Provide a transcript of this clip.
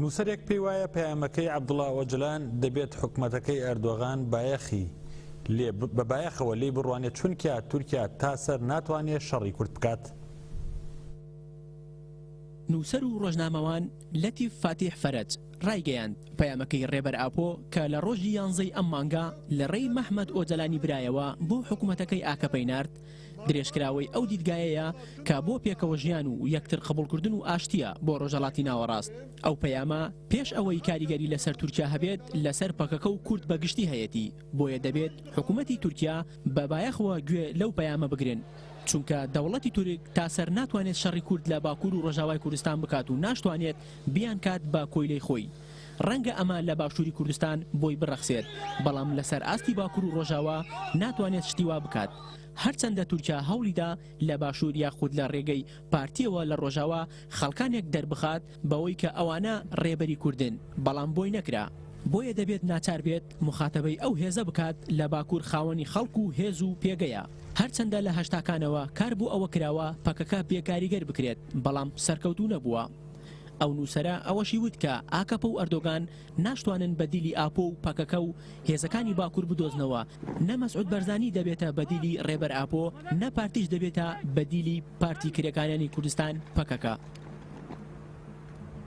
نووسەرێک پێی وایە پەیامەکەی عەبدوڵا ئۆجلان دەبێت حکومەتەکەی ئەردۆغان بایەخی لێ بە بایەخەوە لێی بڕوانێت چونکە تورکیا تا سەر ناتوانێت شەڕی کورد بکات. نووسەر و ڕۆژنامەوان لەتیف فاتیح فەرەج ڕایگەیاند، پەیامەکەی ڕێبەر ئاپۆ کە لە ڕۆژی یانزەی ئەم مانگە لە ڕێی مەهمەت ئۆجەلانی برایەوە بۆ حکومەتەکەی ئاکەپەی نارد، درێژکراوەی ئەو دیدگایەیە کە بۆ پێکەوە ژیان و یەکتر قبوڵکردن و ئاشتییە بۆ ڕۆژەڵاتی ناوەڕاست. ئەو پەیامە پێش ئەوەی کاریگەری لەسەر تورکیا هەبێت لەسەر پەکەکە و کورد بە گشتی هەیەتی، بۆیە دەبێت حکومەتی تورکیا بە بایەخەوە گوێ لەو پەیامە بگرن، چونکە دەوڵەتی تورک تا سەر ناتوانێت شەڕی کورد لە باکور و ڕۆژاوای کوردستان بکات و ناشتوانێت بیانکات بە کۆیلەی خۆی. ڕەنگە ئەمە لە باشووری کوردستان بۆی بڕەخسێت، بەڵام لەسەر ئاستی باکور و ڕۆژاوا ناتوانێت شتی وا بکات. هەرچەندە تورکیا هەوڵی دا لە باشوور یاخود لە ڕێگەی پارتییەوە لە ڕۆژاوا خەڵکانێک دەربخات بەوەی کە ئەوانە ڕێبەری کوردن، بەڵام بۆی نەکرا. بۆیە دەبێت ناچار بێت موخاتەبەی ئەو هێزە بکات لە باکور خاوەنی خەڵک و هێز و پێگەیە. هەرچەندە لە هەشتاکانەوە کار بۆ ئەوە کراوە پەکەکە بێکاریگەر بکرێت، بەڵام سەرکەوتوو نەبووە. ئەو نووسەرە ئەوەشی وت کە ئاکەپە و ئەردۆگان ناشتوانن بەدیلی ئاپۆ و پەکەکە و هێزەکانی باکور بدۆزنەوە، نە مەسعود بەرزانی دەبێتە بەدیلی رێبەر ئاپۆ، نە پارتیش دەبێتە بەدیلی پارتی کرێکاریانی کوردستان، پەکەکە.